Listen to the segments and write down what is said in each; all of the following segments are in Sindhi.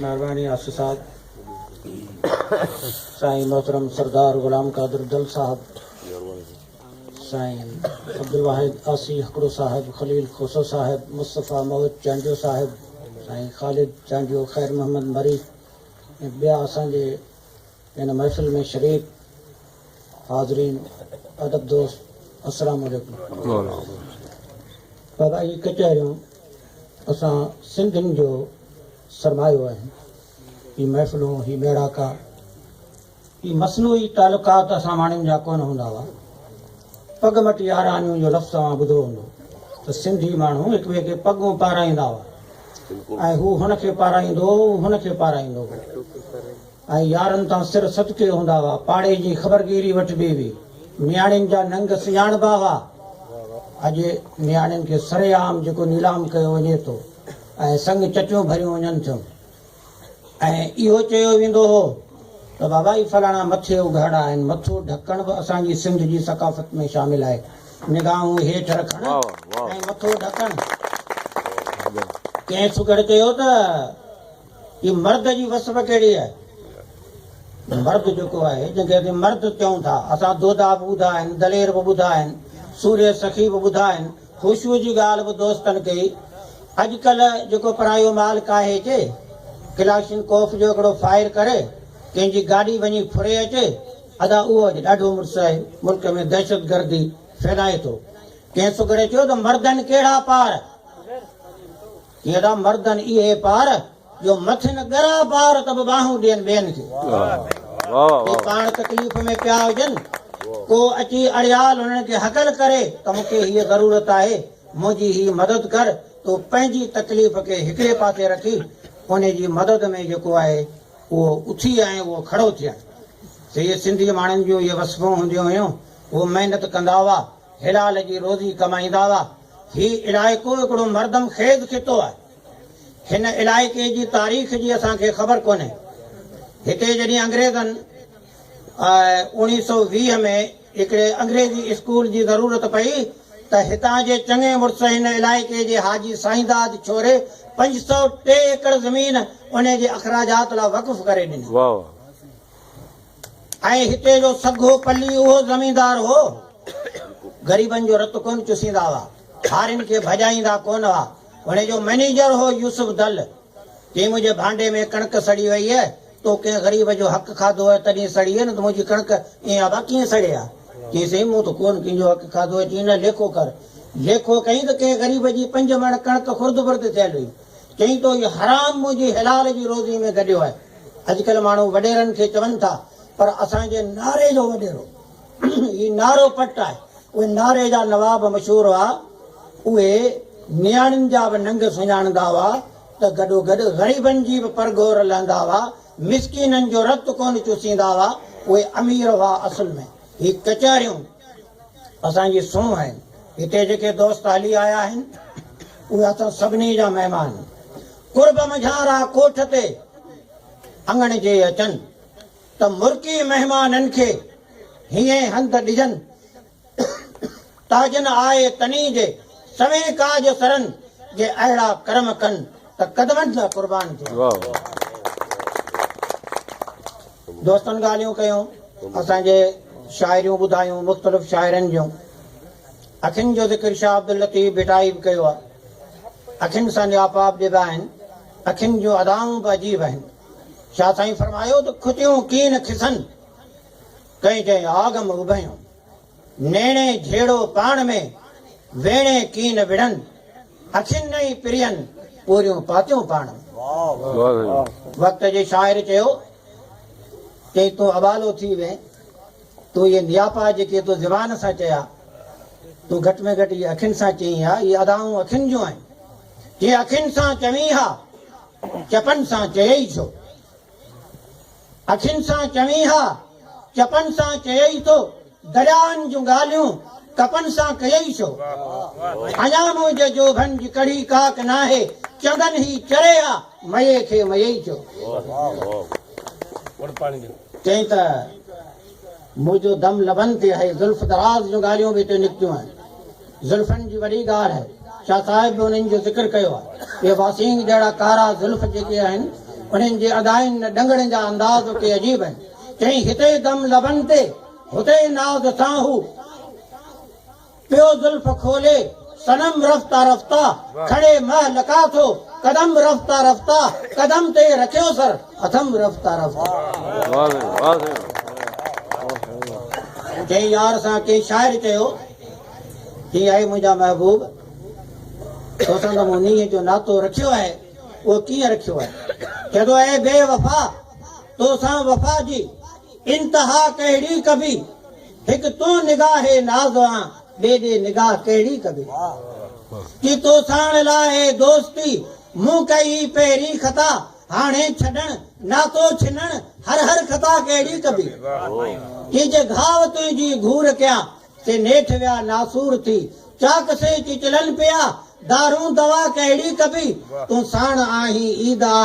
مهرباني آصف صاحب سائين محترم سردار غلام قادر دل صاحب سائين عبدالواحد آصي هڪڙو صاحب خليل کوسو صاحب مصطفيٰ موت چانڊيو صاحب سائين خالد چانڊيو خير محمد مري ۽ ٻيا اسان جي هن محفل ۾ شريڪ حاضرين ادب دوست السلام عليڪم بابا هي ڪچهريون اسان سنڌين جو سرمايو آهن هي محفلون هي ميڙاڪا هي مصنوعي تعلقات اسان ماڻهن جا ڪونه هوندا هئا پڳ مٽي آرانيون جو لفظ اوهان ٻڌو هوندو ته سنڌي ماڻهو هڪ ٻئي کي پڳون پارائيندا هئا ۽ هو هن کي پارائيندو هو هن کي پارائيندو هو ۽ يارن تان سر صدقي هوندا هئا. پاڙي جي خبرگيري وٺبي هئي. نياڻين جا ننگ سڃاڻبا هئا. اڄ نياڻين کي سري عام جيڪو نيلام ڪيو وڃي ٿو ۽ سڱ چٽيون ڀريون وڃن ٿيون ۽ اهو چيو ويندو هو ته بابا هي فلاڻا مٿي اگهاڙا آهن. مٿو ڍڪڻ به اسان جي سنڌ جي ثقافت ۾ شامل آهي. نگاهون هيٺ رکڻ ۽ مٿو ڍڪڻ. ڪنهن سگهڙ چيو ته. هي مرد جي وصف ڪهڙي آهي؟ هي مرد جيڪو آهي، جنهن کي اسين مرد چئون ٿا، اسان دودا به ٻڌا آهن، دلير به ٻڌا آهن، سورهيه سخي به ٻڌا آهن، خوشوء جي ڳالهه به دوستن ڪئي. اڄ ڪلهه جيڪو پرايو مال ڪاهي اچي، ڪلاشن ڪوف جو هڪڙو فائر ڪري، ڪنهن جي گاڏي وڃي ڦري اچي، ادا اهو اڄ ڏاڍو مڙس آهي، ملڪ ۾ دهشتگردي ڦهلائي ٿو. ڪنهن سگهڙي چيو ته، مردن ڪهڙا پار! ڪهڙا مردن اهي پار جو مٿن ڳرا بار ته به ٻانهون ڏين ٻين کي جي پاڻ تڪليف ۾ پيا هجن ڪو اچي اڙيال انهن کي هڪل ڪري ته مون کي هيء ضرورت آهي منهنجي هي مدد ڪر تو پنهنجي تڪليف کي هڪڙي پاسي رکي انهي جي مدد ۾ جيڪو آهي اهو اٿي ۽ اهو کڙو ٿئي سيئي سنڌي ماڻهن جون اهي وصفون هونديون هيون اهو محنت ڪندا هئا حلال جي روزي ڪمائيندا هئا. هي علائقو هڪڙو مردم خيز خطو آهي. هن علائقي جي تاريخ جي اسان کي خبر ڪونهي. هتي جڏهن انگريزن اوڻيهه سؤ ويهه ۾ هڪڙي انگريزي اسڪول جي ضرورت پئي ته هتان جي چڱي مڙس هن علائقي جي حاجي سائينداد ڇوري پنج سؤ ٽي ايڪڙ زمين انهي جي اخراجات لا وقف ڪري ڏني. واهه واهه. ۽ هتي جو سگهو پلي اهو زميندار هو. غريبن جو رت ڪونه چسيندا هئا. هارين کي ڀڄائيندا ڪونه هئا. هن جو مئنيجر هو يوسف دل. چيائين منهنجي ڀانڊي ۾ ڪڻڪ سڙي وئي هي. تو ڪنهن غريب جو حق کاڌو هي تڏهين سڙي هي نه ته منهنجي ڪڻڪ ائين آبا ڪيئن سڙي ها. چيائين سائين مون ته ڪونه ڪنهن جو حق کاڌو هي. چيائين نه ليکو ڪر. ليکو ڪيائين ته ڪنهن غريب جي پنج مڻ ڪڻڪ خرد برد ٿيل هئي. چيائين تو هي حرام منهنجي حلال جي روزي ۾ گڏيو آهي. اڄڪلهه ماڻهو وڏيرن کي چون ٿا پر اسان جي ناري جو وڏيرو هي نارو پٽ آهي. اهي ناري جا نواب مشهور هئا. اهي نياڻين جا به ننگ سڃاڻندا هئا ته گڏوگڏ غريبن جي به پرگهور لهندا هئا. مسڪينن جو رت ڪونه چوسيندا هئا. اهي امير هئا اصل ۾ هي ڪچهريون. اسان جي سونهن آهن. هتي جيڪي دوست هلي آيا آهن، اهي اٿن سڀني جا مهمان. قرب منجهان راء ڪوٺ تي اڱڻ جي اچن، ته مرڪي مهمانن کي هيئين هنڌ ڏجن، ته جن آء تني جي سوين ڪاڄ سرن جي اهڙا ڪرم ڪن، ته قدمن جا قربان ٿين. دوستن ڳالهيون ڪيون، اسان کي شاعريون ٻڌايون مختلف شاعرن جون. اکين جو ذڪر شاهه عبداللطيف ڀٽائي به ڪيو آهي. اکين سان ڄاپاپ ڏبا آهن. اکين جون ادائون به عجيب آهن. شاهه سائين فرمايو ته کتيون ڪين کسن، ڪئين چئين آگم اڀيون. نيڻي جھيڙو پاڻ ۾، ويڻي ڪين وڙھن. اکين ڏئي پرين، پوريون پاتيون پاڻ ۾. وقت جي شاعر چيو، چئي تون ابالو ٿي وين، تون اھي نياپا جيڪي تو زبان سان چيا، تون گھٽ ۾ گھٽ اھي اکين سان چئين ھا، اھي ادائون اکين جون آھن، جي اکين سان چوين ھا، چپن سان چيئي ڇو؟ اکين سان چوين ها، چپن سان چيئي ٿو، درياهن جون ڳالهيون، ڪپن سان ڪيئي ڇو؟ اڃا منهنجي جوڀن جي ڪڙهي ڪاڪ ناهي، چندن هي چري ها، مئي کي مئي ڇو؟ چئين ته. منهنجو دم لبن تي آهي زلف دراز جو ڳالهيون به اتي نڪتيون آهن زلفن جي وڏي ڳالهه آهي شاهه صاحب به انهن جو ذڪر ڪيو آهي اهي واسينگ جهڙا ڪارا زلف جيڪي آهن انهن جي ادائين نه ڏنگڙن جا انداز اتي عجيب آهن چيائين هتي دم لبن تي هتي ناز سان هو پيو زلف کولي صنم رفته رفته کڻي مهه لڪا ٿو قدم رفته رفته قدم تي رکيو سر اٿم رفته رفته ڪنهن يار سان ڪنهن شاعر چيو هي آهي منهنجا محبوب تو سان ته مون نينهن جو ناتو رکيو آهي اهو ڪيئن رکيو آهي چئي ٿو اي بي وفا تو سان وفا جي انتها ڪهڙي ڪبي هڪ تون نگاهه ناز آن ٻي ڏي نگاهه ڪهڙي ڪبي ڪي تو ساڻ لاهي دوستي مون ڪئي هي پهرين خطا هاڻي ڇڏڻ ناتو ڇنڻ هر هر خطا ڪهڙي ڪبي ڪي جي گهاء تنهنجي گهور ڪيان سي نيٺ ويا ناسور ٿي چاڪ سي چچلن پيا دارون دوا ڪهڙي ڪبي تون ساڻ آهين عيد آ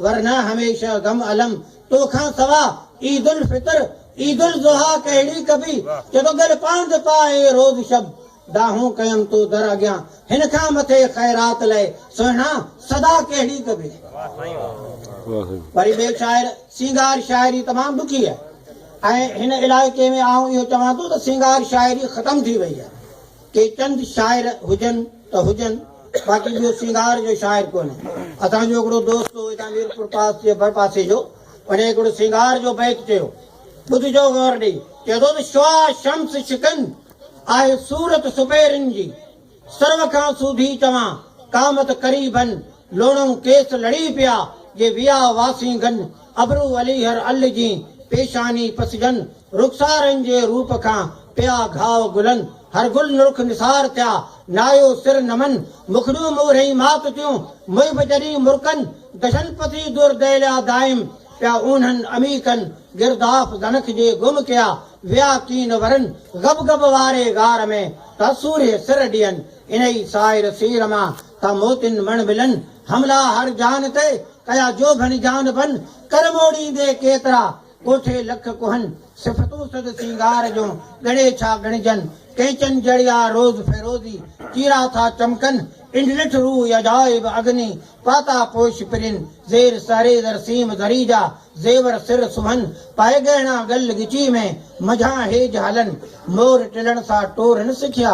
ورنه هميشه غم الم تو کان سوا عيد الفطر عيد الضحيٰ ڪهڙي ڪبي چيو گل پاند پاء اي روز شب ڏاهون ڪيم تو در اڳيان هن کان مٿي خيرات لئه سهڻا صدا ڪهڙي ڪبي وري ٻئي شاعر سينگار شاعري تمام ڏکي آهي ۽ هن علائقي ۾ آئون اهو چوان ٿو ته سينگار شاعري ختم ٿي وئي آهي. ڪي چند شاعر هجن ته هجن باقي ٻيو سينگار جو شاعر ڪونهي. اسان جو هڪڙو دوست هو هتان ميرپور پاس جي ڀرپاسي جو ان هڪڙو سينگار جو بيت چيو. ٻڌجو غور ڏئي. چئي ٿو ته شعاع شمس شڪن آهي صورت سپهرن جي سرو کان سوڀي چوان قامت قريبن لوڻئون ڪيس لڙي پيا، جي ويا واسينگن، ابرو علي هر ال جين، پيشاني پسجن، رخسارن جي روپ کان، پيا گهاء گلن، هر گل نرخ نثار ٿيا، نايو سر نمن، مکڙيون مورهين مات ٿيون، محب جڏهين مرڪن، دشن پسي در دهليا دائم، پيا اونهن عميقن، گرداف زنخ جي گم ڪيا، ويا ڪين ورن، غبغب واري غار ۾، تحصوريه سر ڏين، انهي سائر سير مان، ته موتين مڻ ملن، حملا هر جان تي، ڪيا جوڀن جان بن، ڪر موڙيندي ڪيترا، ڪوٺي لک ڪهن، صفتون سڌ سينگار جون، ڳڻي ڇا ڳڻجن، ڪينچن جڙيا روز فيروزي، چيرا ٿا چمڪن، پنڊ ڏٺ روء عجائب اگني، پاتا پوش پرين، زير سهري زر سيم زري جا، زيور سر سونهن، پائي ڳهڻا ڳل ڳچي ۾، منجهان هيج هلن، مور ٽلڻ سا ٽورن سکيا،